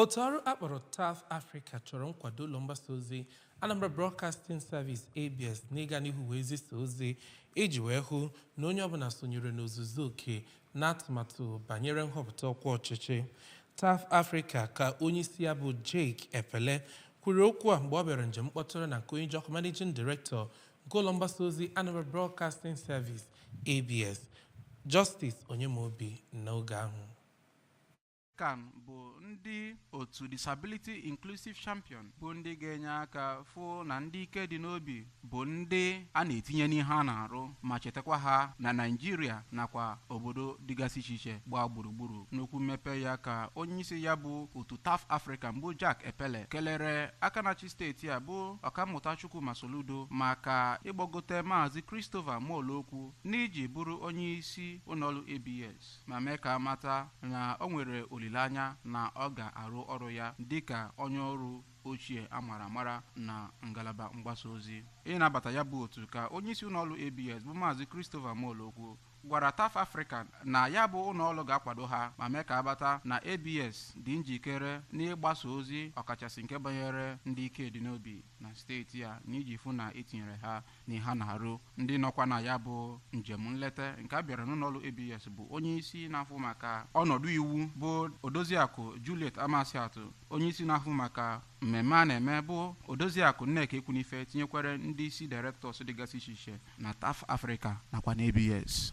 Otu ọrụ a kpọrọ TAF Africa chọrọ nkwado ụlọ mgbasa ozi Anambra Broadcasting Service ABS n'ịga n'ihu wee zisa ozi iji wee hụ na onye ọbụla sonyere n'ozuzu oke n'atụmatụ banyere nhọpụta ọkwa ọchịchị. TAF Africa ka onyeisi ya bụ Jake Epelle kwuru okwu a mgbe ọ bịara njem mkpọtụrụ na nke onye ji ọkwa Managing Director nke ụlọ mgbasa ozi Anambra Broadcasting Service ABS, Justice Onyemobi n'oge ahụ. kan bụ ndị otu Disability Inclusive Champion bụ ndị ga-enye aka fụ na ndị ike dị n'obi bụ ndị a na-etinye n'ihe a na-arụ ma chetakwa ha na Naịjirịa nakwa obodo dịgasị iche iche gbaa gburugburu n'okwu mmepe ya ka onyeisi ya bụ otu TAF Africa bụ Jake Epelle kelere aka na-achị steeti a bụ ọkammụta Chukwuma Soludo maka ịgbagote maazị Christopher Molokwu n'iji bụrụ onye isi ụlọọrụ ABS ma mee ka a mata na o nwere olileanya na ọ ga-arụ ọrụ ya dịka onye ọrụ ochie a mara amara na ngalaba mgbasa ozi. Ịnabata ya bụ otu ka onyeisi ụlọọrụ ABS bụ Maazị Christopher Molokwu gwara TAF Africa na ya bụ ụlọọrụ ga-akwado ha ma mee ka a mata na ABS dị njikere n'ịgbasa ozi ọkachasị nke banyere ndị ike dị n'obi na steeti a n'iji fụ na e tinyere ha n'ihe a na-arụ ndị nọkwa na ya bụ njem nleta nke a bịara n'ụlọọrụ abs bụ onye isi na-ahụ maka ọnọdụ iwu bụ odoziakụ juliet amasiatụ onye isi na-ahụ maka mmemme a na-eme bụ odoziakụ nneka ekwunife tinyekwara ndị isi directors dịgasị iche iche na taf africa nakwa na abs